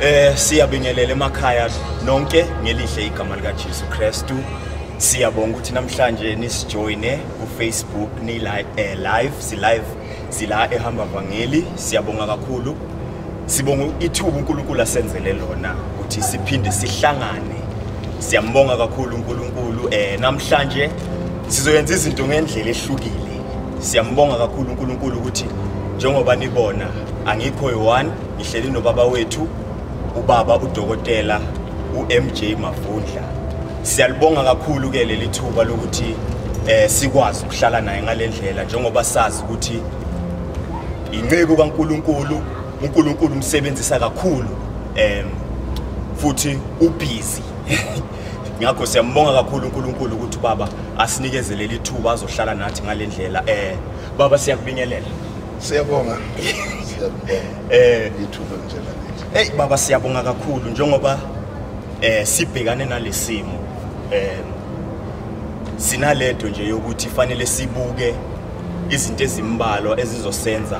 Eh siyabingelela emakhaya nonke ngelihle igama lika Jesu Kristu. Siyabonga ukuthi namhlanje nisijoine ku Facebook ni live eh, live si live sila ehamba vangeli siyabonga kakhulu. Sibonga ithuba uNkulunkulu asenzele lona ukuthi siphinde sihlangane. Siyambonga kakhulu uNkulunkulu eh namhlanje sizoyenza izinto ngendlela ehlukile. Siyambonga kakhulu uNkulunkulu ukuthi njengoba nibona angikho yi-one ngihleli nobaba wethu ubaba udokotela uMJ Mavundla siyalibonga kakhulu ke leli thuba lokuthi eh sikwazi ukuhlala naye ngalendlela njengoba sazi ukuthi inceku kaNkuluNkulu uNkuluNkulu umsebenzisa kakhulu em futhi ubhizi ngakho siyambonga kakhulu uNkulunkulu ukuthi baba asinikezele lithuba azohlala nathi ngalendlela eh baba siyakubingelela Siyabonga. Siyabonga. Eh, ithuba nje la. Hey baba siyabonga kakhulu njengoba eh sibhekane nalesimo eh sinalento nje yokuthi fanele sibuke izinto ezimbalwa ezizosenza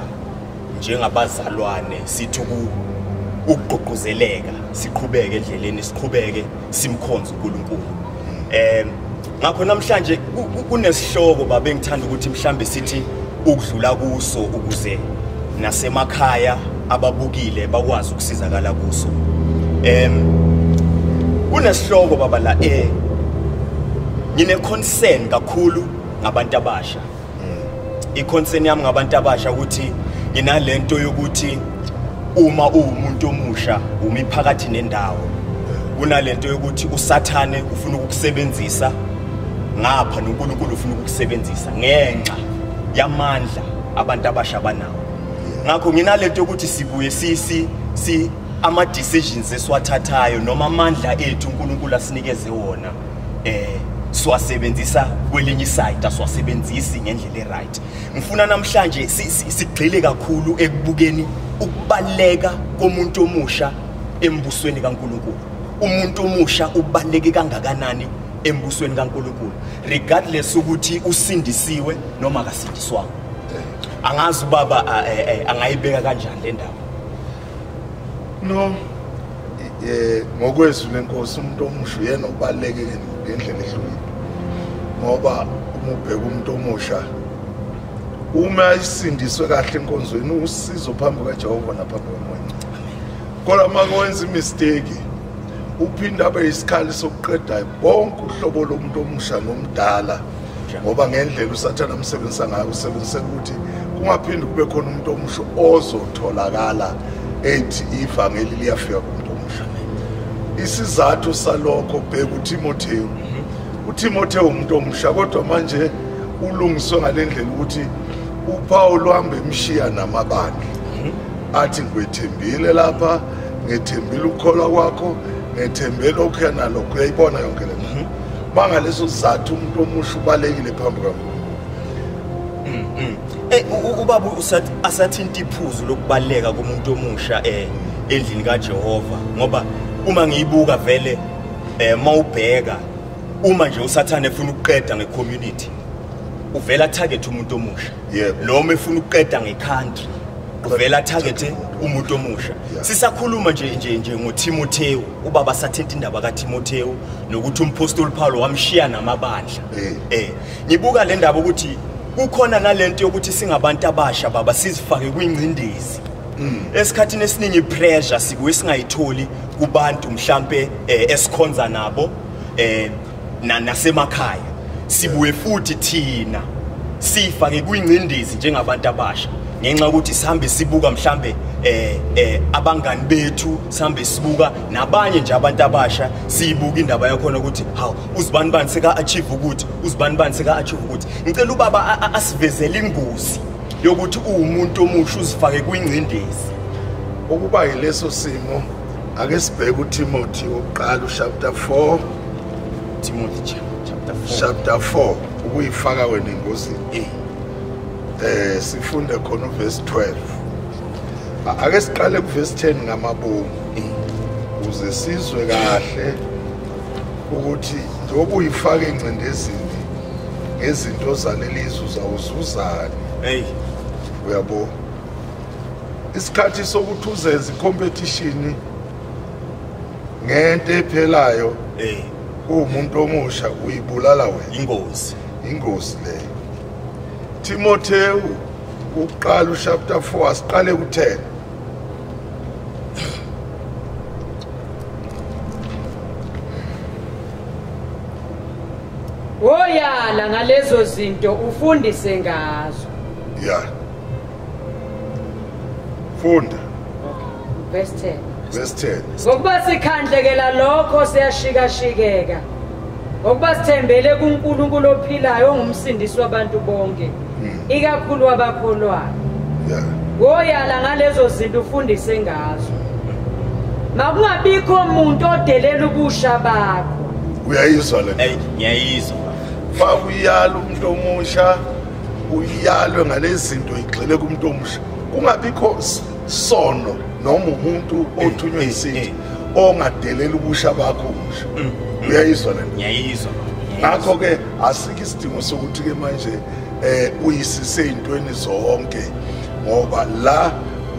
njengabazalwane sithu ukugqugquzeleka siqhubeke endleleni siqhubeke simkhonza uNkulunkulu eh ngakho namhlanje kunesihloko baba engithanda ukuthi mhlambe sithi ukudlula kuso ukuze nasemakhaya ababukile bakwazi ukusizakala kuso em kunesihloko baba la eh ngine concern kakhulu ngabantu abasha iconcern yami ngabantu abasha ukuthi nginalento yokuthi uma uwumuntu omusha umi phakathi nendawo kunalento yokuthi usathane ufuna ukukusebenzisa ngapha noNkulunkulu ufuna ukukusebenzisa ngenxa yamandla abantu abasha banawo ngakho nginalento yokuthi sibuye sisi si ama decisions esiwathathayo noma amandla ethu uNkulunkulu asinikeze wona eh siwasebenzisa kwelinye isayidi asiwasebenzisi ngendlela e-right ngifuna namhlanje sigxile kakhulu ekubukeni ukubaleka komuntu omusha embusweni kaNkuluNkulu umuntu omusha ubaleke kangakanani embusweni kaNkuluNkulu regardless ukuthi usindisiwe noma akasindiswanga angazi ubaba eh, eh, angayibeka kanjani le ndawo no eh ngokwezwi lenkosi umuntu omusha uyena obaleke ngendlela ehlukile ngoba uma ubheka umuntu omusha uma isindiswe kahle enkonzweni usizo phambi kaJehova naphambi komoya kodwa uma wenza imistake uphinde abe isikhali sokuqeda bonke uhlobo lomuntu omusha nomdala ngoba ngendlela usathane amsebenzisa ngayo usebenzise ukuthi kungaphinde kube khona umuntu omusha ozotholakala ethi ivangeli liyafika kumuntu omusha isizathu salokho bheka uTimotheo mhm. uTimotheo umuntu omusha kodwa manje ulungiswe ngalendlela ukuthi uPaul uhambe emshiya namabandla mhm. athi ngwethembile lapha ngethembile ukukholwa kwakho ngethembele okuya nalokho uyayibona yonke lento mhm. bangaleso sizathu umuntu omusha ubalekile phambi kaNkulunkulu mm, mm. eh ubaba usathi asathinta iphuzu lokubaleka komuntu omusha eh endlini kaJehova ngoba uma ngiyibuka vele eh mawubheka uma nje usathane efuna ukuqeda ngecommunity uvela target umuntu omusha noma efuna ukuqeda ngecountry uvela target umuntu omusha sisakhuluma nje nje nje ngoThimothewu ubaba sathetha indaba kaTimotheu nokuthi umphostoli Paulo wamshiya namabandla eh, eh. ngibuka le ndaba ukuthi kukhona nalento yokuthi singabantu abasha baba sizifake kwingcindezi mm. esikhathini esiningi pressure sikuwe singayitholi kubantu mhlambe eh, esikhonza nabo eh nasemakhaya sibuye futhi thina siyifake kwingcindezi njengabantu abasha ngenxa ukuthi sihambe sibuka mhlambe eh eh abangani bethu sihambe sibuka nabanye nje abantu abasha siyibuka indaba yakhona ukuthi haw uzibani bani seka achieve ukuthi uzibani bani seka achieve ukuthi ngicela ubaba asivezele ingozi yokuthi uwumuntu omusha uzifake kwingcindezi ukuba yileso simo ake sibheke utimothy wokuqala uchapter 4 timothy chapter 4 chapter 4 ukuyifaka wena engozini eh, eh sifunde khona uverse 12 ake siqale kuverse 10 ngamabomu eh. ukuze sizwe kahle ukuthi njengoba uyifaka engcindezini ngezinto zalelizwe uzawuzuzani eyi uyabo isikhathi sokuthi uzenze ikompetishini ngento ephelayo eh kuwumuntu omusha uyibulala wena ingozi ingozi le Timotheu uqala uchapter 4 asiqale ku10 Woyala ngalezo zinto ufundise ngazo yeah funda verse 10 verse 10 ngokuba sikhandlekela lokho siyashikashikeka ngokuba sithembele kuNkulunkulu ophilayo ongumsindisi wabantu bonke hmm. ikakhulu abakholwayo woyala ngalezo zinto ufundise ngazo makungabikho umuntu odelela ubusha bakho uyayizwa le ngiyayizwa fakuyala umuntu omusha uyalwe ngalezinto igxile kumuntu omusha kungabikho sono noma umuntu othunywe isinto eh, eh. ongadelela ubusha bakho omusha mm, mm. uyayizwa le ngiyayizwa ngakho ke asikho isidingo sokuthi ke manje eh uyisise intweni zonke ngoba la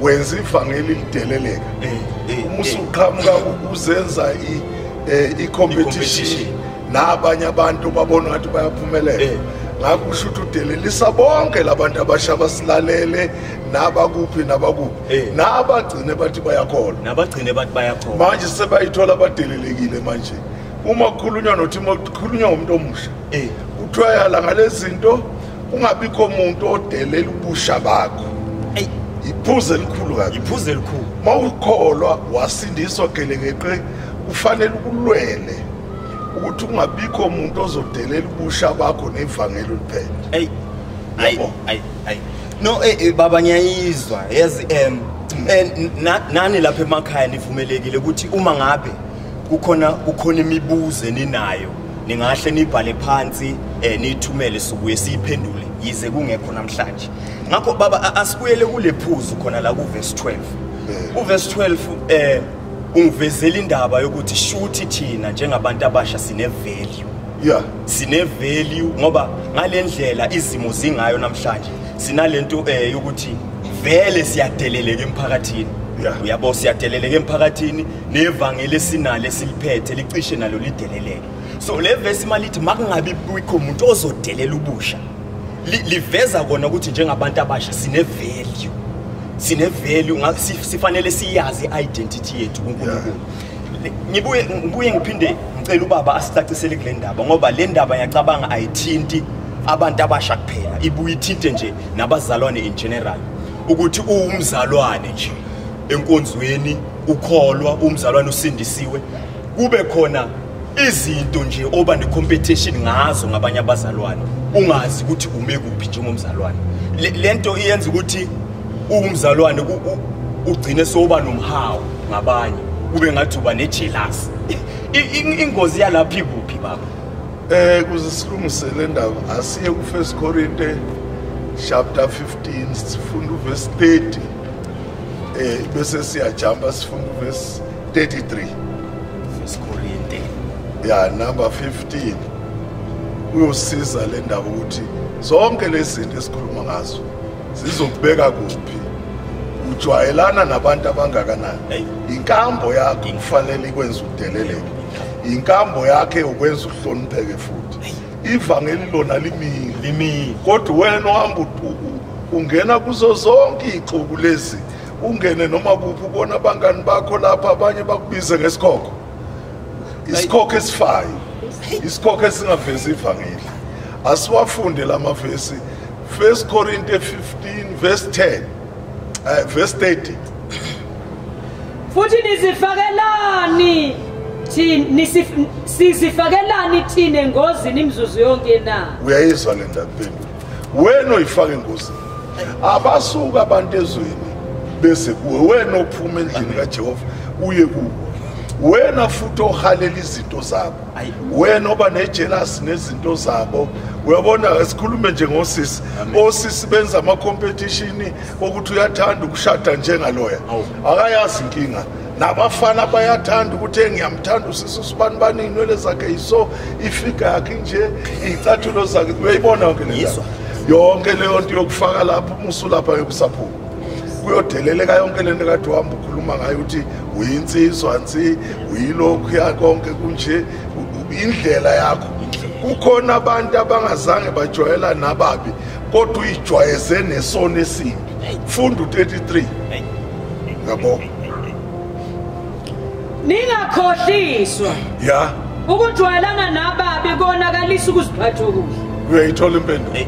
wenza ivangeli lideleleka eh, uma usuqhamuka uzenza i competition nabanye abantu babona ngathi bayaphumelela eh. ngakho kusho ukuthi udelelisa bonke labantu abasha basilalele nabakuphi nabakuphi eh. nabagcine bathi bayakholwa nabagcine bathi bayakholwa manje sebayithola badelelekile manje uma kukhulunywa nothi uma kukhulunywa ngomuntu omusha eh. kuthiwa yala ngalezinto kungabikho umuntu odelela ubusha bakho iphuze elikhulu kabi iphuze elikhulu mawukholwa wasindiswa gelekeqe ufanele ukulwele ukuthi kungabikho muntu ozodelela ubusha bakho nevangeli uliphethe ayi ayi ayi ayi no eh, eh baba ngiyayizwa yazi em eh, nani lapha emakhaya nivumelekile ukuthi uma ngabe kukhona kukhona imibuzo eninayo ningahle nibhale phansi eh nithumele sukuye siyiphendule yize kungekho namhlanje ngakho baba asibuyele kule phuzu khona la ku verse 12 eh. u verse 12 eh ungivezela indaba yokuthi shuthi thina njengabantu abasha sine value yeah sine value ngoba ngalendlela izimo zingayo namhlanje sinalento eh yokuthi vele siyadeleleka emphakathini uyabo siyadeleleka emphakathini nevangeli esinalo esiliphethe licishe nalo lideleleke so le vesi malithi makungabi bikho umuntu ozodelela ubusha liveza kona ukuthi njengabantu abasha sine value sine value sifanele siyazi identity yethu kuNkulunkulu ngibuye ngibuye ngiphinde ngicela ubaba asicacisele kule ndaba ngoba le ndaba yacabanga ayithinti abantu abasha kuphela ibuye ithinte nje nabazalwane in general ukuthi uwumzalwane nje enkonzweni ukholwa umzalwane usindisiwe kube khona izinto nje oba necompetition ngazo ngabanye abazalwane ungazi ukuthi ume kuphi njengomzalwane le nto iyenza ukuthi uwumzalwane ugcine soba nomhawu ngabanye kube ngathi uba nejelasi ingozi yalapha ikuphi baba um kuze silungisele ndaba asiye kufirst corinte chapter 15 sifunda uvesi 30 um eh, bese siyajamba sifunda uvesi 33 First Corinthians ya number 15 uyosiza le ndaba ukuthi zonke lezinto esikhuluma ngazo zizokubeka kuphi ujwayelana nabantu abangakanani inkambo yakho kufanele ikwenza udeleleke inkambo yakhe ukwenza uhlonipheke futhi ivangeli lona limile limile kodwa wena ohamba ungena kuzo zonke ixuku lezi ungene noma kuphi ubona abangani bakho lapha abanye bakubize ngesikhokho isikhokho esifayo isikhokho esingavezi ivangeli asiwafunde la mavesi 1 korinte 15 verse 10 uh, eh, verse 30 futhi nizifakelani sizifakelani thina engozini imizuzu yonke na uyayizwa le ndabeni wena oyifaka engozini abasuka abantu ezweni bese kuwe wena ophuma endlini kajehova uye kuwo wena futhi ohalela izinto zabo wena oba nejelasi nezinto zabo uyabona sikhulume nje ngosisi osisi benza ama-competition okuthi uyathanda ukushada njengaloya akayazi inkinga nabafana bayathanda ukuthi engiyamthanda usisi usibani bani inwele zakhe yiso ifiga yakhe nje iy'cathulo zakhe uyayibona yonke leyizwa yonke leyo nto yokufaka lapho umusulapha yokusaphuma kuyodeleleka yonke le nto kade uhamba ukhuluma ngayo ukuthi uyinsizwa nsi uyilokhu yakonke kunje indlela yakho kukhona abantu abangazange bajwayela nababi kodwa uyijwayeze nesono esimbi funda u-33 yabo ningakhohliswa ya ukujwayelana nababi konakalisa ukuziphatha okuhle uyayithola impendulo eh,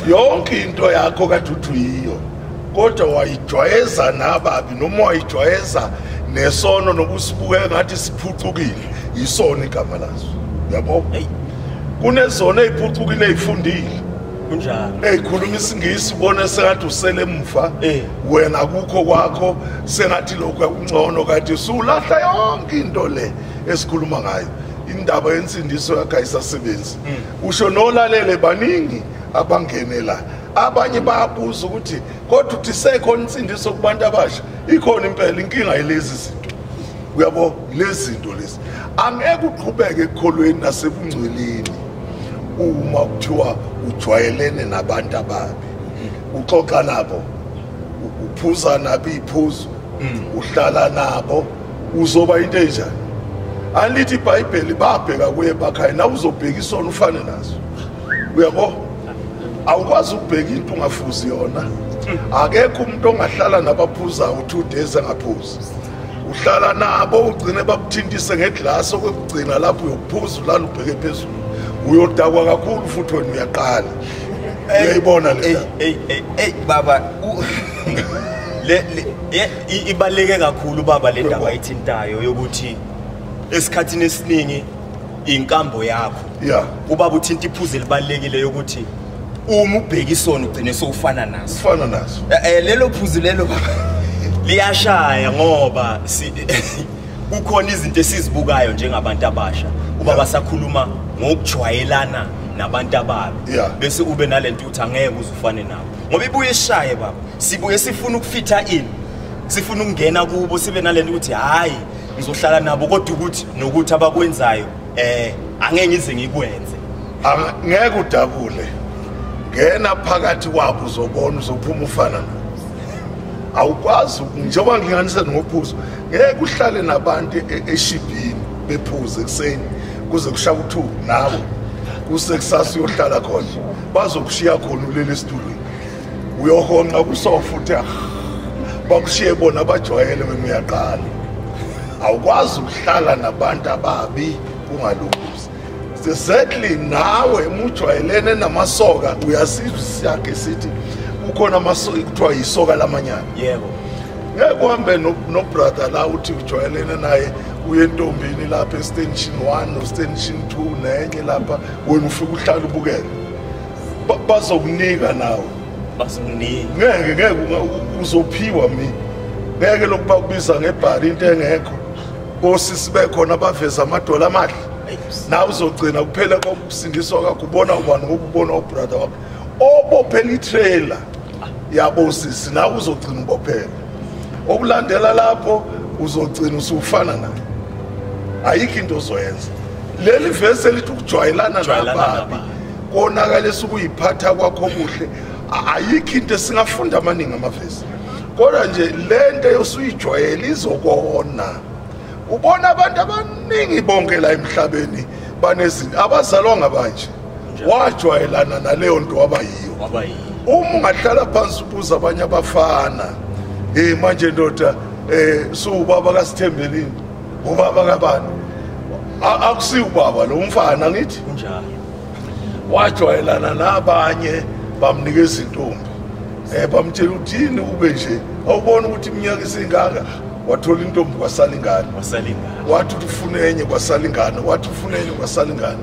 yonke into yakho kade uthi uyiyo kodwa wayijwayeza nababi noma wayijwayeza nesono nokusibuke ngathi siphucukile yisona igama laso yabo kunezona eyiphucukile eyifundile kunjani hey khuluma isingisi ubona sengathi usele emuva eh. wena kukho kwakho sengathi lokho yakungcono kade usulahla yonke into le esikhuluma ngayo indaba yensindiso yakhe ayisasebenzi hmm. usho nolalele baningi abangene la abanye bayabuza ukuthi kodwa uthi sekhona insindiso kubantu abasha ikhona impela inkinga yilezi zinto uyabo lezi zinto lezi angeke uqhubeke ekukholweni nasebungcweleni uma kuthiwa ujwayelene nabantu ababi uxoxa nabo uphuza nabo iphuzu mm. uhlala nabo uzoba into enjani alithi ibhayibheli babheka kuye bakhaya nawe uzobheka isona ufane naso uyabo awukwazi ukubheka into ungafuzi yona mm. akekho umuntu ongahlala nabaphuzayo two days angaphuzi uhlala nabo ugcine bakuthintise ngeglass okugcina lapho uyophuza ulala ubheke phezulu uyodakwa kakhulu futhi wena uyaqala uyayibona le hey hey hey baba le ibaleke kakhulu baba le ndaba ithintayo yokuthi esikhathini esiningi inkambo yakho yeah ubaba uthinta iphuze libalekile ukuthi uma ubheka isona ugcine sowufana naso fana naso Eh, eh, lelo phuzu lelo liyashaya ngoba si- kukhona izinto esizibukayo njengabantu abasha uba basakhuluma ngokujwayelana nabantu ababo Yeah. bese ube nalento ukuthi angeke uze ufane nabo ngoba ibuye ishaye baba sibuye sifuna ukufitha in sifuna ukungena kubo sibe nalento ukuthi hhayi ngizohlala nabo kodwa ukuthi nokuthi abakwenzayo eh angeke ngize ngikwenze ngeke udabule ngena phakathi kwabo uzobona uzophuma ufana no awukwazi njengoba ngilinganise nophuzo ngeke uhlale nabantu e, e, eshibhini bephuze ekuseni kuze kushaya u-two nawe kusekusasa uyohlala khona bazokushiya khona ulele esitulweni uyohonqa kusofa uthi ah, bakushiye bona bajwayele wena uyaqala awukwazi ukuhlala nabantu ababi ungalunguzi exactly nawe mujwayelene namasoka uyasizwa isiyakhe sithi kukhona amasoka kuthiwa yisoka lamanyana yebo ngeke uhambe nobrother la uthi ujwayelene naye uye entombini lapha estension one nostension two nenye lapha wena ufike uhlala ubukele bazokunika nawe bazokunika ngeke ngeke uzophiwa mina ngeke lokuba kubiza ngebhari into engekho kosisi bekhona abaveza amadola amahle nawe uzogcina kuphela kokusindiswa kwakho ubona ubani ngokubona ubrother wakho obophela itrailer yabo sisi nawe uzogcina ubophela okulandela lapho uzogcina usufana naye ayikho into ozoyenza leli vesi elithi ukujwayelana nababi konakalisa ukuyiphatha kwakho kuhle ayikho into esingafunda amaningi amavesi kodwa nje le nto yosuyijwayela izokona ubona abantu abaningi bonke la emhlabeni banezinto abazalwa ngabanje wajwayelana naleyo nto wabayiyo uma ungahlala phansi ubuza abanye abafana um manje ndoda um eh, suwubaba kasithembelini ubaba kabani akusi ubaba lo mfana ngithi njalo wajwayelana nabanye bamnika izintombi eh bamtshela ukuthi yini ube nje awubona ukuthi iminyaka isingaka wathola intombi kwasala ingane wasala ingane wathi ufuna enye kwasala ingane wathi ufuna enye kwasala ingane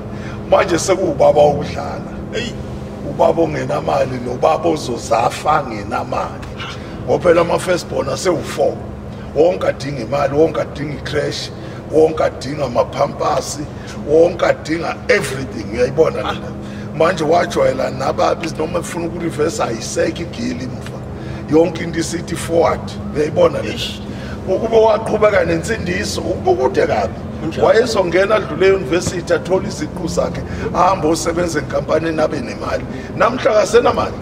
manje sekuwubaba okudlala hey ubaba ongenamali nobaba ozozafa ngenamali ngoba phela ama first born asewu4 wonke adinga imali wonke adinga icrash wonke adinga amaphampasi wonke adinga everything uyayibona ah. lena manje wajwayela nababi noma efuna ukurivesa ayisekho igili imva yonke into isithi forward uyayibona lena ukube waqhubeka nensindiso ukukude kabi wayezongena adlule eyunivesithi athole iziqu zakhe ahambe osebenza enkampanini abe nemali namhla kasenamali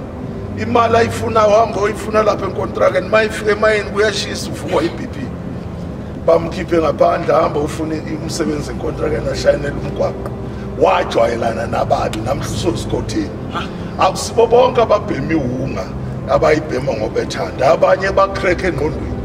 imali ayifunayo hamba oyifuna lapha enkontrakeni uma ifika emayini kuyashisa ufukwa i-bp bamkhiphe ngaphandle hamba ufune umsebenzi enkontrakeni ashayinela umgwaqo wajwayelana nababi namhla usosikhothini akusibo bonke ababhemi wunga abayibhema ngobethanda abanye bakhreke engqondweni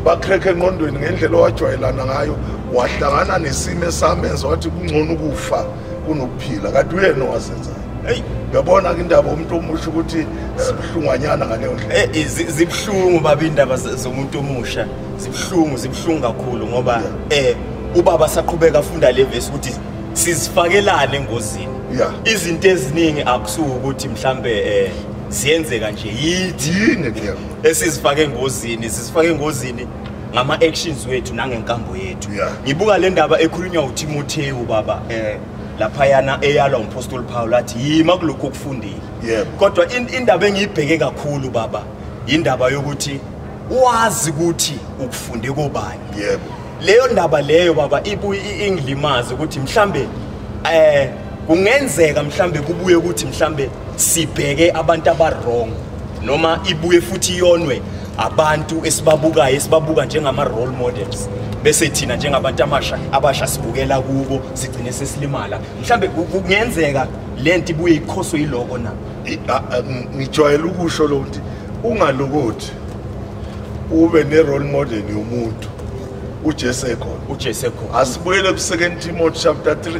bakhreke engqondweni ngendlela owajwayelana ngayo wahlangana nesimo esamenza wathi kungcono ukufa kunokuphila kade uyena owazenzayo eyi uyabona ke indaba umuntu omusha ukuthi sibuhlungwanyana ngaleyo ndlela eh, eh, zibuhlungu baba indaba zomuntu omusha zibuhlungu zibuhlungu kakhulu ngoba eh ubaba saqhubeka afunda le vesi ukuthi sizifakelane engozini izinto eziningi akusuke ukuthi mhlambe eh ziyenzeka nje yithi yini esizifake engozini sizifake engozini ngama actions wethu nangenkambo yethu yeah. ngibuka le ndaba ekhulunywa uTimotheu baba eh lapha yana eyalwa umpostoli Paul athi yima kulokho okufundile yeah. kodwa indaba engiyibheke kakhulu baba indaba yokuthi wazi ukuthi ukufunde kobani yebo yeah. leyo ndaba leyo baba ibuye ingilimaze ukuthi mhlambe eh kungenzeka mhlambe kubuye ukuthi mhlambe sibheke abantu abarong noma ibuye futhi iyonwe abantu esibabukayo esibabuka njengama role models bese thina njengabantu amasha abasha sibukela kubo sigcine sesilimala mhlambe kungenzeka lento ibuye ikhoswe yiloko na ngijwayele ukusho lo ukuthi ungalokothi ube ne role model yomuntu uJesu ekhona uJesu ekhona asibuyele ku 2 Timothy chapter 3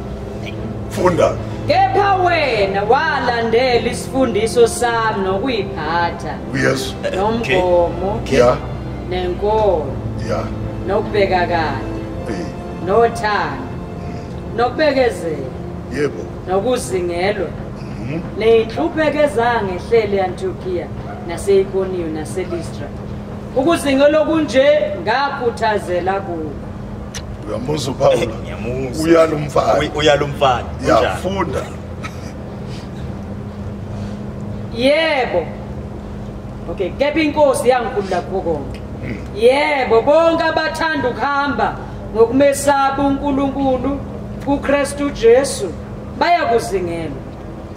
funda kepha wena walandela isifundiso sami nokuyiphatha yes nomgomo yeah nenkolo yeah nokubeka kade nothando mm. nokubekezela yebo nokuzingelwa mhm. neyinhlupheko ezangehlele yantukiya naseikoniyo naselistra ukuzingelwa kunje ngakhuthazela kuko uyamuzwa uphawula eh, ngiyamuzwa uyala umfana uyala umfana yafunda yebo okay kepha inkosi yangikhulula kukho konke hmm. yebo bonke abathanda ukuhamba ngokumesaba uNkulunkulu kuKristu Jesu bayakuzingelwa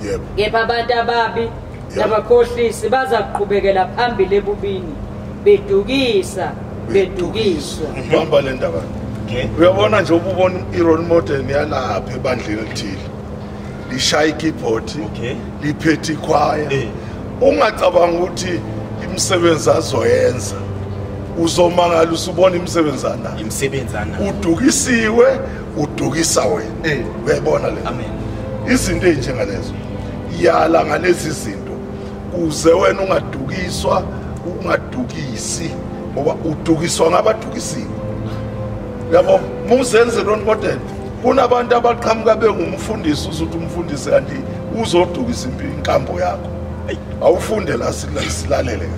yebo kepha abantu ababi nabakhohlisi baza kuqhubekela phambili ebubini bedukisa bedukiswa bamba le ndaba uyabona nje ububona i-role model yalapha ebandleni elithile lishaya ikibhodi liphethe ikhwaya eh. ungacabanga ukuthi imisebenzi azoyenza uzomangala usubona imisebenzana imisebenzana udukisiwe udukisa wena eh. uyayibona le amen izinto ezinjengalezo yala ngalezi zinto kuze wena ungadukiswa ungadukisi ngoba udukiswa ngabadukisiwe yabo muzenze lona kodwa kunabantu abaqhamuka bengumfundisi uzothi umfundisi kanti uzodukisa inkambo yakho awufunde la silalele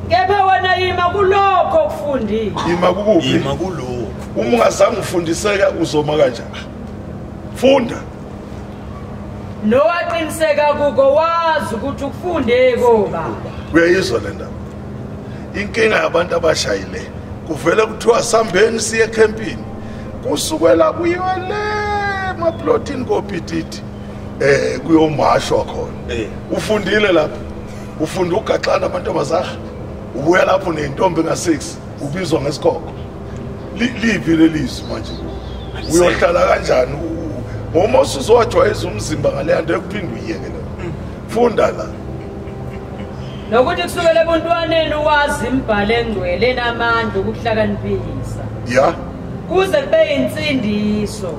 kepha wena yima kulokho okufundile yima kukuphi yima kulokho uma ungazange ufundiseke uzoma kanjani funda nowaqiniseka kuko wazi ukuthi ukufunde koba uyayizwa le ndaba inkinga yabantu abashayile kuvele kuthiwa sambeni siye ekhempini kusukela kuyiwe le emaplotini kopititi eh kuyomashwa khona eh. ufundile lapho ufunda ugaxana amantombazana ubuya lapho nentombi nga6 ubizwa ngesikhokho liphi lelizwi manje uyohlala kanjani ngoma usuzowajwayeza umzimba ngaleya nto yokuphinde uyiyeke lo mm. funda la nokuthi kusukela ebuntwaneni wazi imbhalo engcwele enamandla okuhlakaniphisa ya kuze kube insindiso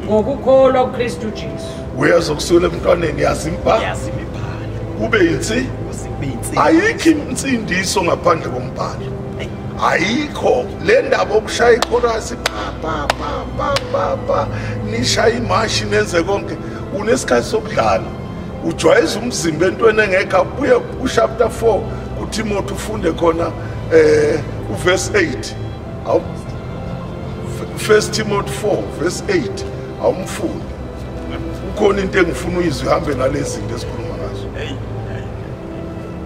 ngokukholwa kuKristu Jesu uyeza kusukela ebuntwaneni yazi imbhalo yazi imibhalo kube insi ayikho insindiso ngaphandle kombhalo ayikho le ndaba okushaya ichorasi papapapapapa nishaya imashi nenze konke unesikhathi sokudlala ujwayeza umzimba entweni engekho abuye kuchapter 4 kutimothy ufunde khona eh uverse 8 awu first timothy 4 verse 8 awumfunde ukhona into engifuna uyizwe ihambe nalezi zinto esikhuluma ngazo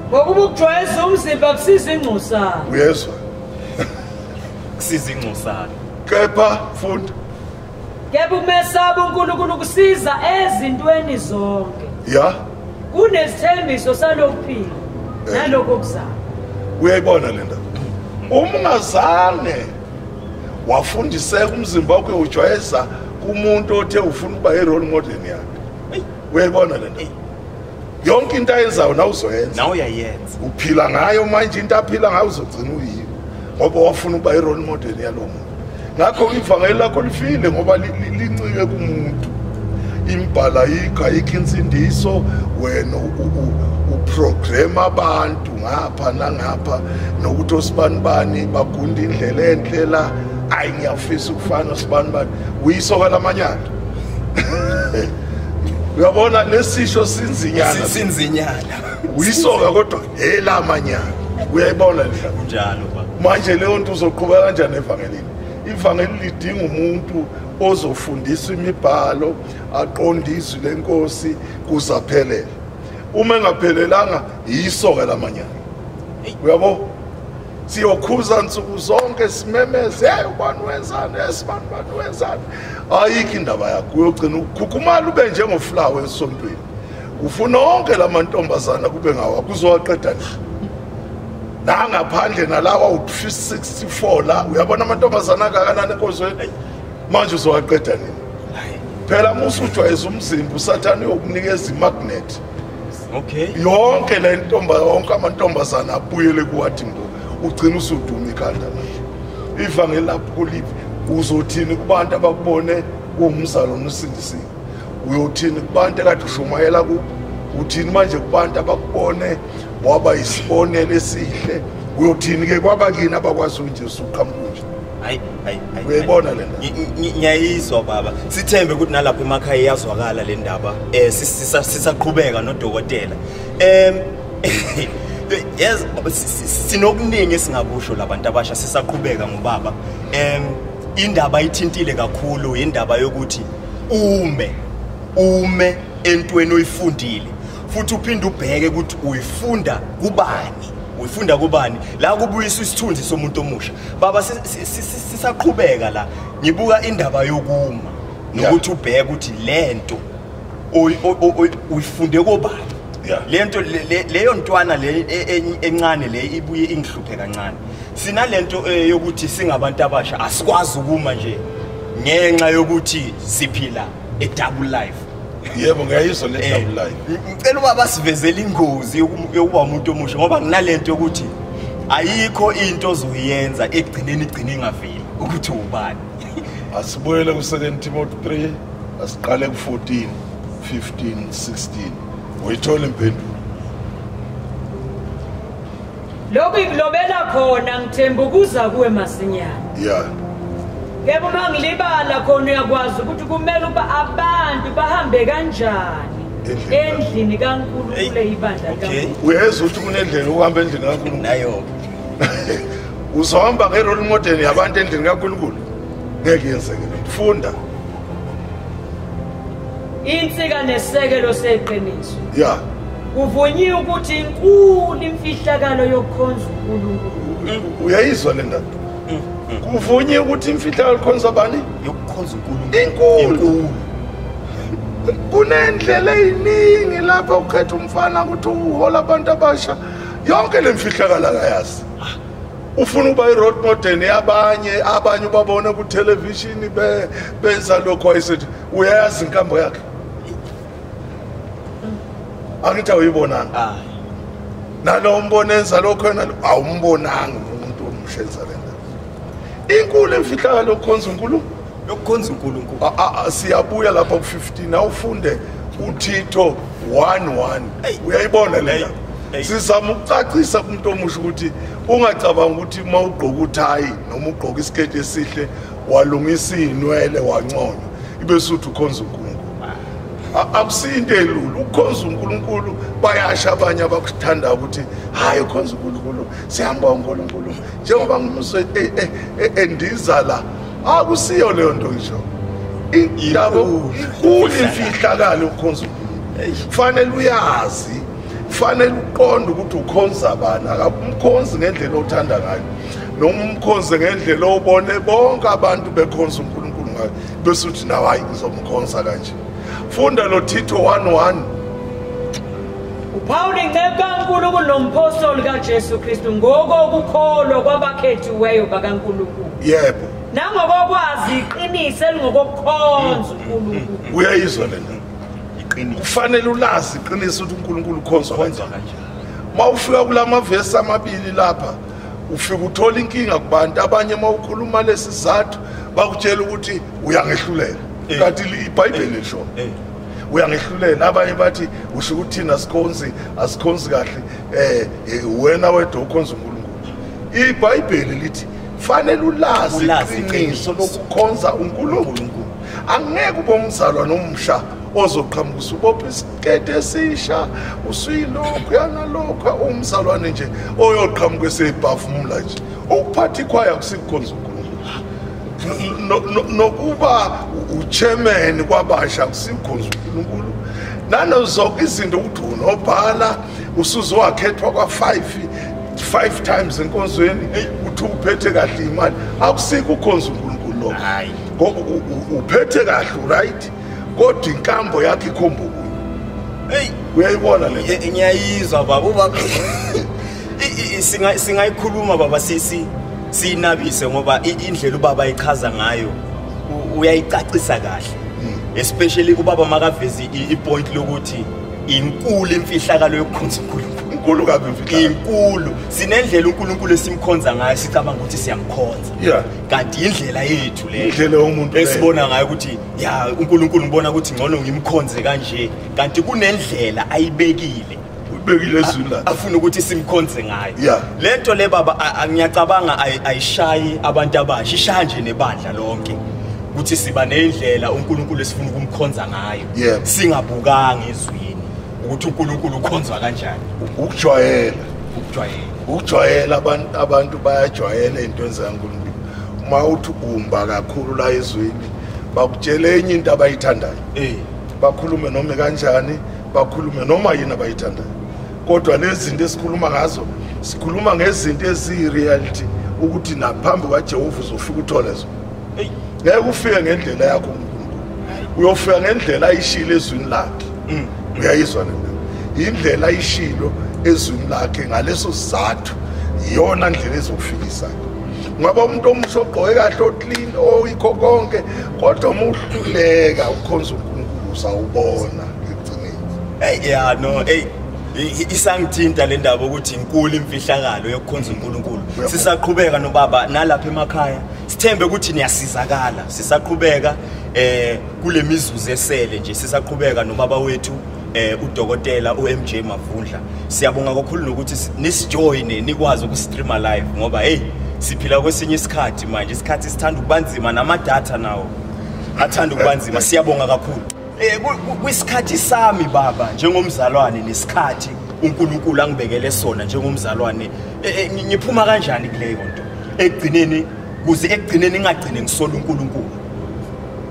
ngokuba ukujwayeza umzimba kusiza ingcosana uyezwa kusiza ingcosana kepha funda kepha umesaba unkulunkulu kusiza ezintweni zonke ya kunesithembiso salokuphila eh. naloko kuzama uyayibona le ndaba uma ungazange wafundiseka umzimba wakho ujwayeza kumuntu othe ufuna ukuba i-role model yakhe uyayibona le ndaba yonke into ayenzayo nawe uzoyenza nawe uyayenza uphila ngayo manje into aphila ngayo uzogcina uyiyo ngoba wafuna ukuba i-role model yalo muntu ngakho ivangeli lakho lifile ngoba lincike kumuntu imbhala ayikho ayikho insindiso wena uprogram abantu ngapha nangapha nokuthi osibani bani bagunda indlela enhle la ayi ngiyafisa ukufana osibani bani uyisoka lamanyala uyabona lesisho sinzinyana sinzinyana uyisoka kodwa elamanyana uyayibona nje kunjalo manje leyo nto uzoqhubeka kanjani evangelini ivangeli lidinga umuntu ozofundisa imibhalo aqonde izwi lenkosi kuze aphelele uma engaphelelanga yisoka lamanyana uyabo siyokhuza nsuku zonke simemeze hey ubani wenzani esibani ubani wenzani ayikho indaba yakho uyogcina ukukhukhumala ube njengoflawa esontweni ufuna onke la mantombazana kube ngawa kuzowaqeda nje nangaphandle nalawa u-364 la uyabona amantombazana akakanani enkozweni manje uzowaqeda nini phela musujwayeza umzimba usathane uyokunikeza imagnethi okay yonke le ntomba yonke amantombazane abuyele kuwathi mbo ugcina usuduma ikhanda manje ivangeli lapho kuliphi uzothini kubantu abakubone kuwumzalo nosindisiwe uyothini kubantu ekade ushumayela kubo uthini manje kubantu abakubone waba yisibonelo esihle uyothini-ke kwabakini abakwazi unje usuqhamukunje hayi hayi hayi uyayibona le ndaba Ngi- ngi- ngiyayizwa baba sithembe ukuthi nalapha emakhaya iyazwakala le ndaba um sisaqhubeka nodokotela um yes baba, si- si- sinokuningi esingakusho labantu abasha sisaqhubeka ngobaba um indaba ithintile kakhulu indaba yokuthi ume ume entweni oyifundile futhi uphinde ubheke ukuthi uyifunda kubani uyifunda kubani la kubuyisa isithunzi somuntu omusha baba sisaqhubeka la ngibuka indaba yokuma nokuthi ubheke ukuthi lento uyifunde kobani lento leyo ntwana le e, e, encane le ibuye ingihluphe kancane sinalento eh, yokuthi singabantu abasha asikwazi ukuma nje ngenxa yokuthi siphila a double life yebo ngiyayizwa le eh, double line ngicela uba basivezele ingozi yokuba umuntu omusha ngoba nginalento yokuthi ayikho into ozoyenza ekugcineni igcine ingaveli ukuthi ubani asibuyele ku-second timothy 3 asiqale ku-14 15 16 uyithola impendulo Lokhu ikulobela khona ngithemba ukuza kuwe masinyana. Yeah. Yebo uma ngilibala khona uyakwazi ukuthi kumele uba abantu bahambe kanjani. endlini kaNkulunkulu eyibandla kaNkulunkulu uyezwa ukuthi kunendlela ukuhamba endlini kaNkulunkulu nayo uzohamba ngerole model yabantu endlini kaNkulunkulu ngeke yenzeke funda insika nesekelo seqiniso ya kuvunyiwe ukuthi inkulu imfihlakalo yokukhonza uNkulunkulu uyayizwa le ndaba kuvunyiwe ukuthi imfihlakalo yokukhonza bani yokukhonza uNkulunkulu inkulu kunendlela eziningi lapha ukhetha umfana ukuthi uhola abantu abasha yonke lemfihlakalo akayazi ah. ufuna uba i-road modern yabanye abanye ubabona kuthelevishini benza lokhu wayesethi uyayazi inkambo yakhe angithi awuyibonanga ah. nalo umbona enza lokho yena awumbonanga umuntu omshenza le nto inkulu emfihlakalo kukhonza unkulunkulu yokukhonza uNkulunkulu ah, ah, ah, siyabuya lapha ku-15 awufunde uthitho 11 uyayibona lena sizama ukucacisa kumuntu omusha ukuthi ungacabanga ukuthi uma ugqoka uthayi noma ugqoka isiketi esihle walungisa iy'nwele wanconywa ibe suthi ukhonza unkulunkulu akusiyo into elula ukukhonza unkulunkulu bayasha abanye abakuthandayo ukuthi hhayi ukhonza unkulunkulu siyambonga unkulunkulu njengoba ngumuzwe e, e, e, endiza la akusiyo ah, leyo nto ngisho indaba inkulu imfihlakalo ukhonza kufanele uyazi kufanele uqonde ukuthi ukhonza bani akumkhonzi ngendlela othanda ngayo noma umkhonze ngendlela obone bonke abantu bekhonza unkulunkulu ngayo bese uthi nawe hayi ngizomkhonza kanje funda lo thitho 11 uphawula incebo kankulunkulu nomphostoli kajesu kristu ngokokukholwa kwabakhethiweyo bakankulunkulu yebo nangokokwazi iqiniso elingokokukhonza unkulunkulu uyayizwa le ndaba iqiniso kufanele ulazi iqiniso ukuthi uNkulunkulu ukhonzwa kanjani mawufika kulamavesi amabili lapha ufika uthola inkinga kubantu abanye mawukhuluma lesizathu bakutshela ukuthi uyangehlulela eh. kanti ibhayibheli eh. lisho eh. uyangehlulela abanye bathi usho ukuthi thina sikhonzi asikhonzi kahle um wena wedwa ukhonza unkulunkulu ibhayibheli lithi fanele ulazi iqiniso lokukhonza unkulunkulu angeke ube umzalwa nomsha ozoqhamuka usubopha isikete esisha usuyilokhu yanalokhu umzalwane nje oyoqhamuka esebhafumula nje ukuphatha ikhwaya kusikhonza unkulunkulu nokuba uchairman kwabasha kusikhonza uNkulunkulu nanozonke izinto ukuthi unobhala usuzowakhethwa kwa-5 five times enkonzweni uthi uphethe kahle imali akusike ukhonza uNkulunkulu lokho ngoba uphethe kahle right kodwa inkambo yakhe ikhomba ukuyo eyi uyayibona le Ye- ngiyayizwa baba ubaba I- i- singa- singayikhuluma baba sisi siyinabise ngoba i- indlela ubaba ayichaza ngayo u- uyayicacisa kahle especially ubaba makavezi i- ipoint lokuthi inkulu imfihlakalo yokukhonza unkulunkulu inkulu kabi imfihlakalo. inkulu sinendlela unkulunkulu esimkhonza ngayo sicabanga ukuthi siyamkhonza Yeah. kanti indlela yethu leyo Indlela yomuntu leyo. esibona ngayo ukuthi ya uNkulunkulu ngibona ukuthi ngcono ngimkhonze kanje kanti kunendlela ayibekile ubekile ezwini lakhe afuna ukuthi simkhonze ngayo yeah. le nto le baba ngiyacabanga ayishayi abantu abasha ishaya nje nebandla lonke ukuthi siba nendlela uNkulunkulu esifuna ukumkhonza ngayo yeah. singabukanga ezwini ukuthi uNkulunkulu ukhonzwa kanjani ukujwayela ukujwayela ukujwayela abantu abantu bayajwayela into zikaNkulunkulu uma uthi umba kakhulu la ezwini bakutshele enye into abayithandayo eh. bakhulume noma kanjani bakhulume noma yini abayithandayo kodwa lezi zinto esikhuluma ngazo sikhuluma ngezinto eziyi-reality ukuthi naphambi kwajehova uzofika uthole zona ngeke ufike ngendlela yakho unkulunkulu uyofika ngendlela ayishile ezwini lakhe mm. uyayizwa nena yindlela ayishilo ezwini lakhe ngaleso sizathu yiyona ndlela ezokufikisa ngaba umuntu omuhle ogqoke kahle oclean oyikho konke kodwa uma uhluleka ukukhonza uNkulunkulu sawubona ecineni hey yeah no hey isangithinta le ndaba ukuthi inkulu imfihlakalo yokukhonza uNkulunkulu sisaqhubeka nobaba nalapha emakhaya sithembe ukuthi niyasizakala sisaqhubeka eh kule mizuzu esele nje sisaqhubeka nobaba wethu eh udokotela uMJ Mavundla siyabonga kakhulu nokuthi nisijoine nikwazi ukustreama live ngoba hey siphila kwesinye isikhathi manje isikhathi sithanda ukubanzima nama data nawo athanda ukubanzima siyabonga kakhulu eh kwisikhathi sami baba njengomzalwane nesikhathi uNkulunkulu angibekele sona njengomzalwane eh, eh, ngiphuma kanjani kuleyo nto ekugcineni kuze ekugcineni ngingagcine ngisola uNkulunkulu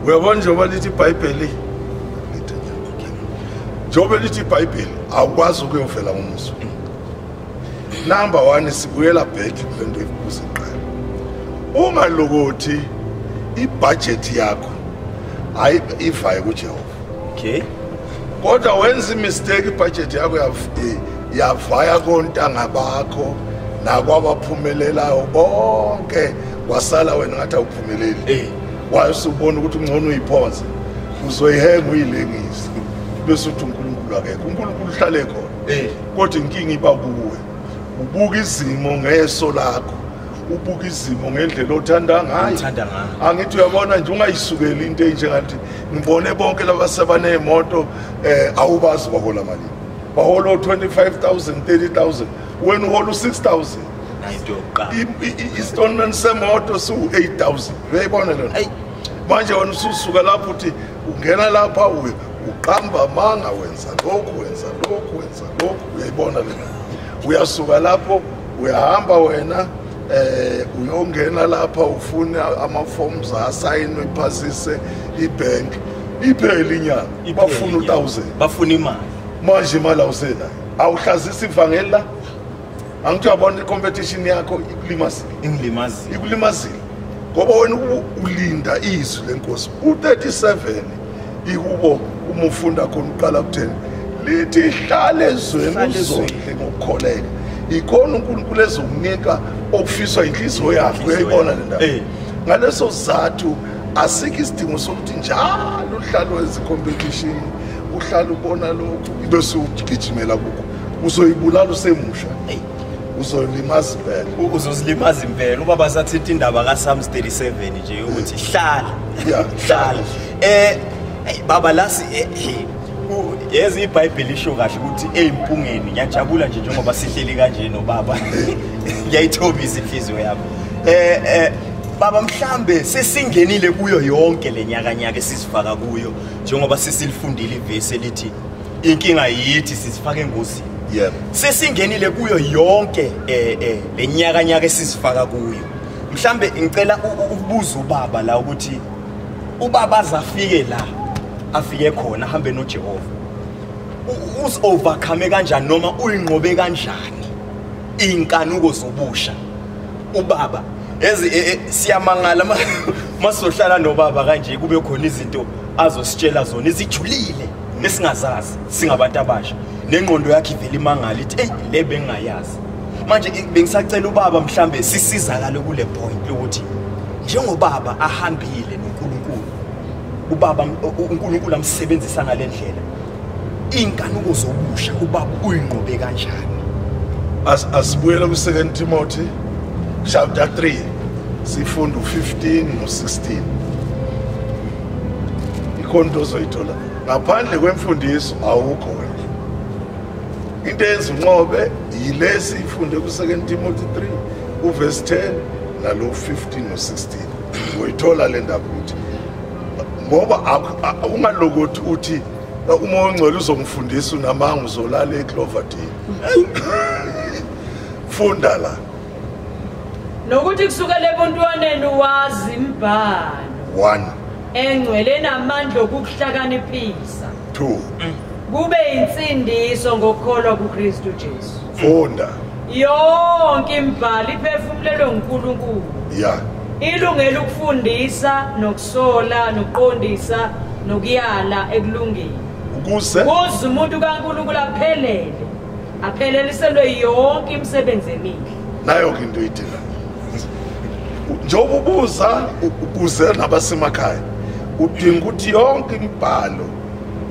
uyabona njengoba lithi ibhayibheli njengoba lithi ibhayibheli awukwazi ukuyovela ngomuzwa number one sibuyela back kule nto ibuze qala ungalokothi ibhajethi yakho hayi ivaye kujehova okay kodwa wenza imistake ibhajethi yakho yavaya kontanga bakho nakwabaphumelelayo bonke wasala wena ngathi awuphumeleli eh. waye usubona ukuthi ungcono uyiphonse uzoyihenga uyilengise bese uthi unkulunkulu akekho unkulunkulu uhlale khona eh. kodwa inkinga iba kuwe ubuka izimo ngeso lakho ubuka izimo ngendlela othanda ngayo angithi uyabona nje ungayisukeli into enjengathi ngibone bonke laba sebaneemoto um eh, awubazi bahola malini bahola o-25 000 30 000 wena uhola u-6 000 istonman semoto siwu-8 000 uyayibona lona manje wena ususuka lapho uthi ungena lapha uye uqamba amanga wenza lokhu wenza lokhu wenza lokhu uyayibona lena uyasuka lapho uyahamba wena eh uyongena lapha ufune ama-forms asayinwe iphasise ibhank iphele inyanga bafuna u-thousand bafuna imali manje imali awusenayo awuhlazisa ivangeli la angithi uyabona i-competition yakho ikulimazile ingilimazile ikulimazile ngoba wena ulinda izwi lenkosi u-37 ikubo uma ufunda khona uqala kutheni lithi hlale ezweni uzondle ngokukholeka yikhona unkulunkulu ezokunika okufiswa yinhliziyo yakho uyayibona le ndaba eh. ngaleso sizathu asikho isidingo sokuthi njalo uhlale wenza i-competition uhlale ubona lokhu ibe siwugijimela kukho uzoyibulala usemusha eyi uzolimaza impela uzozilimaza impela ubaba sathetha indaba kaSams 37 nje ukuthi hlala hlala eh baba lasi eh, yeza ibhayibheli isho kahle ukuthi eyimpungeni ngiyajabula nje njengoba sihleli kanje nobaba ngiyayithobisa inhliziyo yami eh eh baba mhlambe sesingenile kuyo yonke lenyaka nyaka esizifaka kuyo njengoba sesilifundile ivesi elithi inkinga yithi sizifaka engozini yebo sesingenile kuyo yonke eh, eh, le nyaka nyaka esizifaka kuyo mhlambe ngicela ukubuza ubaba la ukuthi ubaba azafike la afike khona ahambe noJehova uzi overcome kanjani noma uyinqobe kanjani inkanuko zobusha ubaba ezi e, e, siyamangala masohlala nobaba kanje kube khona izinto azositshela zona izijulile nesingazazi singabantu abasha nengqondo yakhe ivele imangala ithi eyi le bengingayazi manje bengisacela ubaba mhlambe sisizakale kule point lokuthi njengobaba ahambile noNkulunkulu ubaba uNkulunkulu amsebenzisa ngalendlela inkanuko zobusha ubaba uyinqobe kanjani as asibuyela ku second Timothy chapter 3 sifunda u15 no16 ikhona into ozoyithola ngaphandle kwemfundiso awukho wena into eyenza unqobe yilesi ifunde ku-second timothy 3 uvesi 10 nalo 15 no-16 uyithola le ndaba ukuthi ngoba ungalokothi uthi uma ongcwele uzongifundisa unamanga uzolala ecloverdale funda la nokuthi kusukela ebuntwaneni wazi imbhalo 1 engcwele namandla okukuhlakaniphisa 2 kube insindiso ngokukholwa kuKristu Jesu funda yonke imbhalo iphefumulelwe nguNkulunkulu ya ilungela ukufundisa nokusola nokuqondisa nokuyala ekulungeni ukuze kuze umuntu kaNkulunkulu aphelele apheleliselwe yonke imisebenzi emihle nayo ke into idinga njengoba ubuza ukuze nabasemakhaya udinga ukuthi yonke imibhalo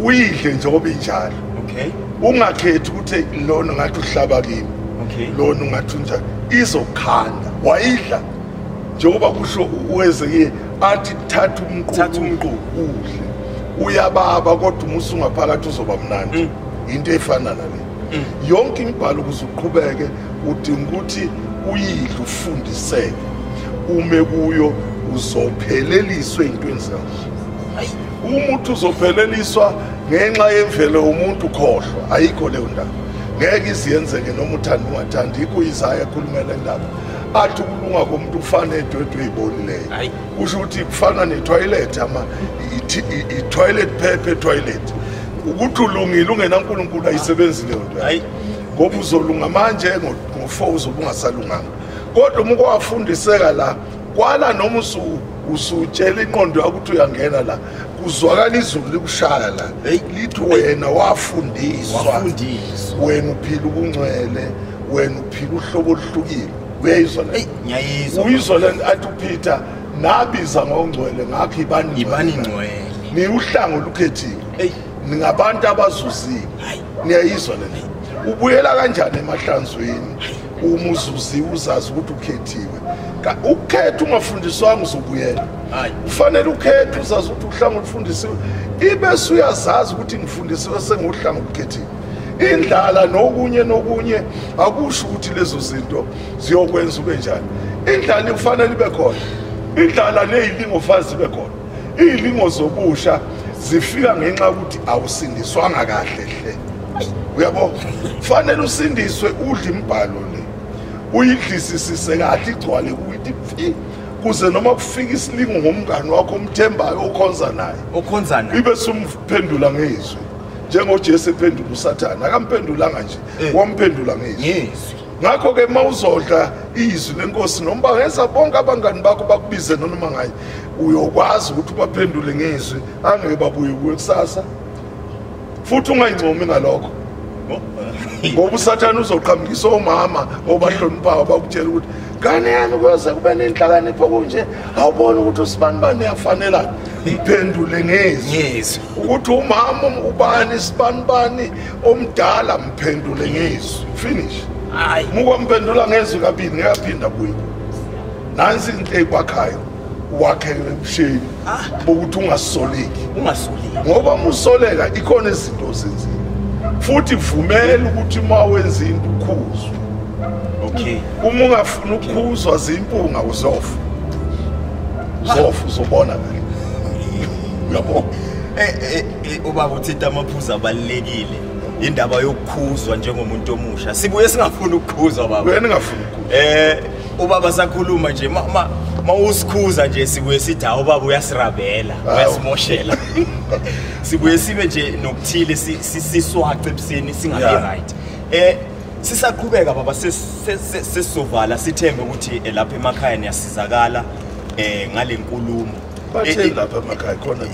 uyidle njengoba injalo okay ungakhethi ukuthi lona ngathi uhlaba kimi okay lona ungathi unjani izokhanda wayidla njengoba kusho uwezekile athi thatha umququdle uyababa kodwa umusa ungaphakathi uzoba mnandi mm. into efana nale mm. yonke imibhalo ukuze uqhubeke udinga ukuthi uyidle ufundiseke ume kuyo uzopheleliswa ey'ntweni zakhe umuntu uzopheleliswa ngenxa yemvelo yomuntu khohlwa ayikho leyo ndaba ngeke iziyenzeke noma uthanda ungathandi ikho izaya ekhulumela indaba athi ukulunga komuntu ufane edwedwe ey'bonileyo kusho ukuthi kufana nethoyilethi ama ithoyilethi phephe ethoyilethi ukuthi ulungile ungenankulunkulu ayisebenzi leyo nto hayi ngoba uzolunga manje ngo-four uzobe ungasalunganga kodwa uma kwawafundiseka la kwala noma usutshela inqondo yakho ukuthi uyangena la kuzwakala izulu likushaya la lithi wena wafundiswa wena uphila ubungcwele wena uphila uhlobo oluhlukile uyayizwa le ngiyayizwa uyizwa le athi upeter nabiza ngongcwele ngakho ibani ibani ngcwele niwuhlango olukhethiwe eyi ningabantu abazuzile niyayizwa le ubuyela kanjani emahlanzweni uma uzuziwe uzazi ukuthi ukhethiwe ukukhetha ungafundiswanga uzobuyela ufanele ukhethe uzazi ukuthi uhlanga olufundisiwe ibe suyazazi ukuthi ngifundisiwe sengiwuhlanga olukhethiwe indlala nokunye nokunye akusho ukuthi lezo zinto ziyokwenza ube njani indlala ikufanele ibe khona indlala neyilingofazi ibe khona iyilingo zobusha zifika ngenxa yokuthi awusindiswanga kahle hle uyabo fanele usindiswe udle imbhalo le uyidlisisise kahle igcwale kuyithi phi kuze noma kufika isilingo ngomngane wakho omthembayo okhonza naye okhonza naye ibe sumphendula ngezwi njengojesu ephendula usathane akamphendulanga nje eh. wamphendula ngezwi ngakho-ke uma uzodla izwi lenkosi noma bangenza bonke abangani bakho bakubize nonoma ngaye uyokwazi ukuthi ubaphendule ngezwi angeke babuye kuwe kusasa futhi ungayincomi ngalokho ngoba usathane uzoqhamukisa omama obahloniphayo bakutshela ukuthi ngane yami kuyoze kube nenhlakanipho kunje awuboni ukuthi usibani bani uyafanelana iphendule ngezwi ukuthi umama ubani isibanibani omdala mphendule ngizwi finish hayi muko mphendula ngezwi kabili ngekaphinda kuyo nansi into ekwakhayo wakhele ebusheni ah. bokuthi ungasoleki ungasoleki ngoba musoleka ikhona izinto ozenzile futhi vumela ukuthi uma wenza into ukhuzwe okay uma ungafuna ukukhuzwa zimpunga uzofa uzofa uzobona kahle yabo eh, eh, eh, ubaba uthinta amaphuzu abalulekile indaba yokukhuzwa njengomuntu omusha sibuye singafuni ukukhuzwa baba wena ngafuni ukukhuzwa eh ubaba sakhuluma nje mama mawusikhuza nje sibuye sithi hawu baba uyasirabela uyasimoshela sibuye sibe nje nokuthile siswace ebuseni singabi right eh sisaqhubeka baba sesizovala sithembe ukuthi eh, lapha emakhaya niyasizakala eh ngalenkulumo batheni lapha emakhaya khona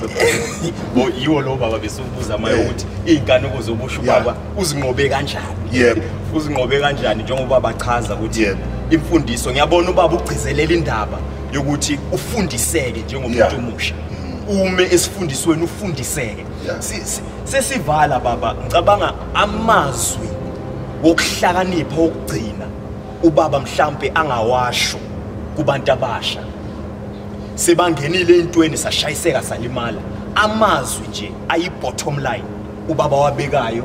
bo yiwo lo baba besubuza maye eh. ukuthi izingane ukuze ubusho baba uzinqobe kanjani yebo uzinqobe kanjani njengoba bachaza ukuthi imfundiso ngiyabona ubaba ugcizelela indaba yokuthi ufundiseke njengomuntu omusha mm. ume esifundisweni ufundiseke sesivala baba ngicabanga amazwi wokuhlakanipha okugcina ubaba mhlambe angawasho kubantu abasha sebangenile entweni sashayiseka salimala amazwi nje ayi bottom line ubaba wabekayo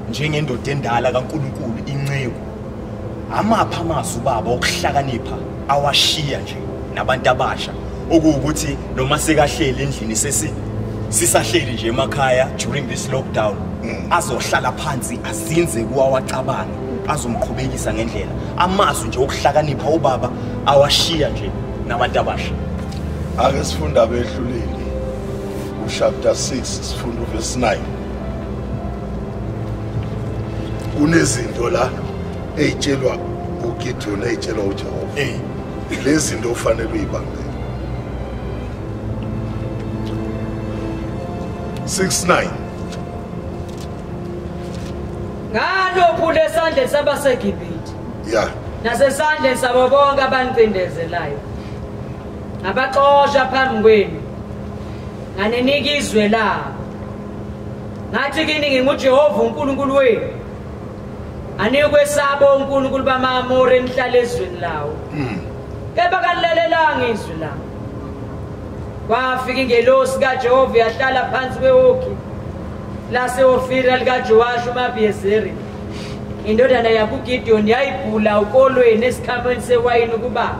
njengendoda endala kaNkuluNkulu inceku amapha amazwi ubaba okuhlakanipha awashiya nje nabantu abasha okuwukuthi noma sekahleli endlini sesi sisahleli nje emakhaya during this lockdown mm. azohlala phansi azinze kuwawacabanga azomqhubekisa ngendlela amazwi nje okuhlakanipha ubaba awashiya nje nabantu abasha ake sifunda behluleli uchapter 6 sifunda uverse 9 kunezinto la eyitshelwa uGideon eyitshelwa uJehova eh lezinto ufanele uyibambe 69 ngalokhu lesandle sabaseGibhithe ya nasesandleni sabo bonke abanicindezelayo ngabaxosha phambi kwenu nganinika izwe labo ngathi kini ngingujehova unkulunkulu wenu anikwesaba unkulunkulu bamaamori enihlala ezweni lawo hmm. kepha kanilalelanga izwi lami kwafika ingelosi kajehova yahlala phansi kwewoki laseofira likajowashi umabhiyezeri indodana yakugideoni yayibhula ukolweni esikhamweni sewayini ukuba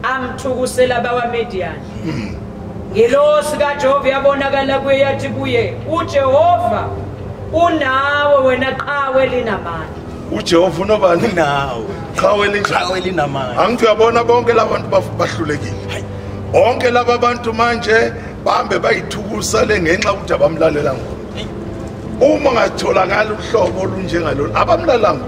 amthukusela abawamediyani hmm. ngelosi kajehova yabonakala kuye yathi kuye ujehova unawe wena qhawe linamandla ujehova unobani nawe qhawe linqhawe linamandla angithi uyabona bonke laba bantu bahlulekile bonke laba bantu manje bahambe bayithukusale ngenxa ukuthi abamlalela ngona uma ngatholakala uhlobo olunjengalolu abamlalanga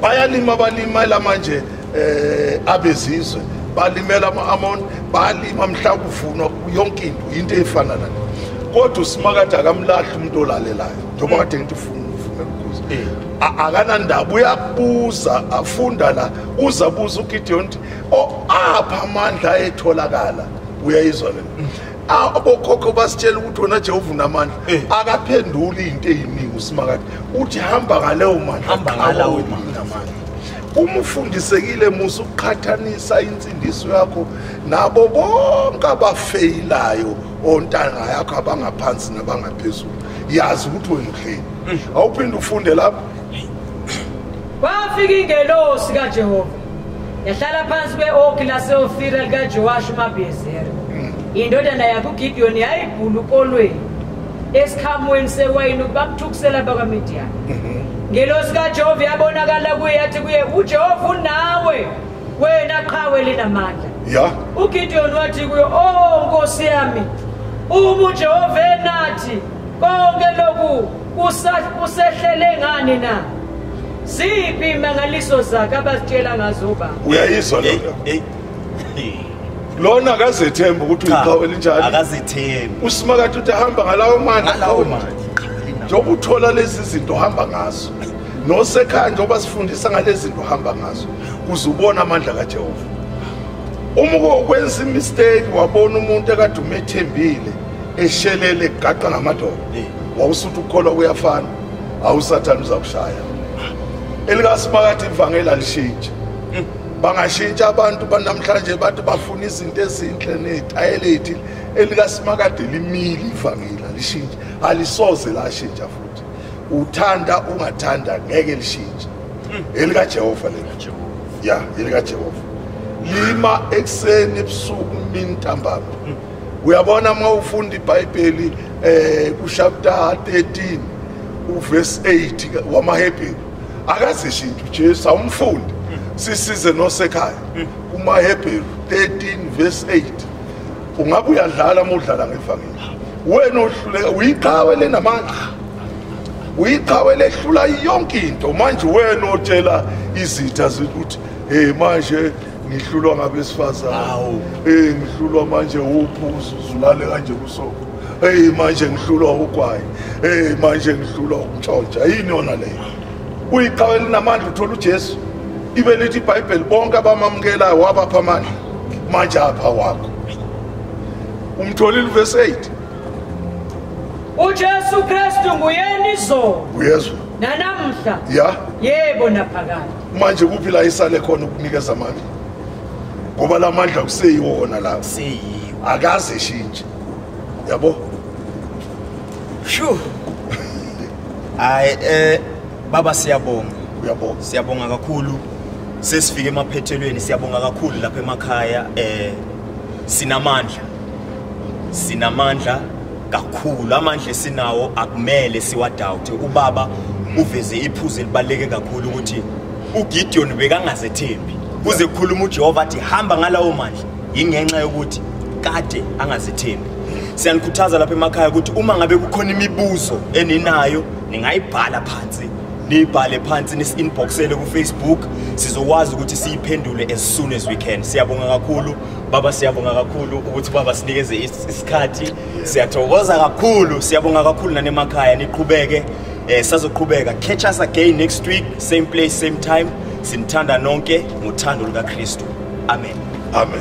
bayalima balimela manje eh abezizwe balimela ama-amon balima mhla kuvunwa yonke into yinto eyifana nale kodwa usimakade akamlahli umuntu olalelayo njengoba kade ngithi funa ufuna ukuza eh. akanandaba uyabuza afunda la uza buza ugideon ukuthi o apha amandla ayetholakala uyayizwa lena abokhokho basitshela ukuthi wona jehova unamandla eh. akaphenduli into eyiningi usimakade uthi hamba ngaleyo mandlaamandla uma ufundisekile musa ukuqhathanisa insindiso yakho nabo bonke abafeyilayo ontanga yakho abangaphansi nabangaphezulu yazi ukuthi wena uhleni mm. awuphinde ufunde lapho Kwafika ingelosi kaJehova yahlala phansi kwe-okhi laseofira likaJowashi uMabhiyezeri. Indodana yakuGidiyoni yayibhula ukolweni esikhamweni sewayini ukuba kuthukisela abakwaMidiyani. Mhm. Ngelosi kaJehova yabonakala kuye yathi kuye uJehova unawe wena qhawe linamandla. Ya. UGidiyoni wathi kuye, "Oh Nkosi yami, uma uJehova enathi konke lokhu kusehlele ngani na ziphi imangaliso zakhe abazitshela ngazo ubaba uyayizwa lona lona akazethembi ukuthi uyiqhawe elinjani akazethembi usimakade uthi ahamba ngalawo mani ngalawo mani njengoba uthola lezi zinto ohamba ngazo nosekhaya njengoba sifundisa ngalezi zinto ohamba ngazo kuze ubone amandla kajehova uma ukwenza imisteki wabona umuntu ekade umethembile eshelele gaqa ngamadoda wawusuthi ukukholwa kuyafana awusathane uzakushaya elikasimakathi ivangeli alishintshe hmm. bangashintsha abantu banamhlanje bathi bafuna izinto ezinhle netayelethi elikaSimakade limile ivangeli alishintshe alisoze lashintsha futhi uthanda ungathanda ngeke lishintshe hmm. elikaJehova lena ya elikaJehova lima ekseni ebusuku mintambama hmm. uyabona uma ufunda ibhayibheli eh kuchapter 13 uverse 8 wamahebheru akazishi into ujesu awumfundi sisize nosekhaya kumahebheru 13 verse 8 ungabe uyadlala uma udlala ngevangeli wena ohluleka uyiqhawe lenamandla uyiqhawe lehlula yonke into manje wena otshela izitha ukuthi hey manje ngihlulwa ngabesifazane hawu eh ngihlulwa manje uphuzo uzulale kanje kusoko hey manje ngihlulwa ugwayi hey manje ngihlulwa ukutshontsha yini yona leyo uyiqhawe linamandla uthola uJesu ibe lithi iBhayibheli bonke abamamukelayo wabapha amandla manje apha wakho umtholile verse 8 uJesu Kristu nguyena izolo uyezwa nanamhla ya yebo naphakade manje kuphi la isale khona ukunikeza amandla ngoba la mandla kuseyiwona la kuseyiwo akaze eshintshe yabo shu hayi eh baba siyabonga uyabonga siyabonga kakhulu sesifike emaphethelweni siyabonga kakhulu lapha emakhaya eh sinamandla sinamandla kakhulu amandla esinawo akumele siwadawuthe ubaba uveze iphuzu elibaluleke kakhulu ukuthi uGideon bekangazethembi kuze kukhuluma uJehova athi hamba ngalawo mandla ingenxa yokuthi kade angazethembi siyanikhuthaza lapha emakhaya ukuthi uma ngabe kukhona imibuzo eninayo ningayibhala phansi niyibhale phansi nisi-inboxele kufacebook sizokwazi ukuthi siyiphendule as soon as we can siyabonga kakhulu Baba siyabonga kakhulu ukuthi baba sinikeze isikhathi siyathokoza kakhulu siyabonga kakhulu nanemakhaya niqhubeke eh sazoqhubeka catch us again next week same place same time sinithanda nonke ngothando lukaKristu amen amen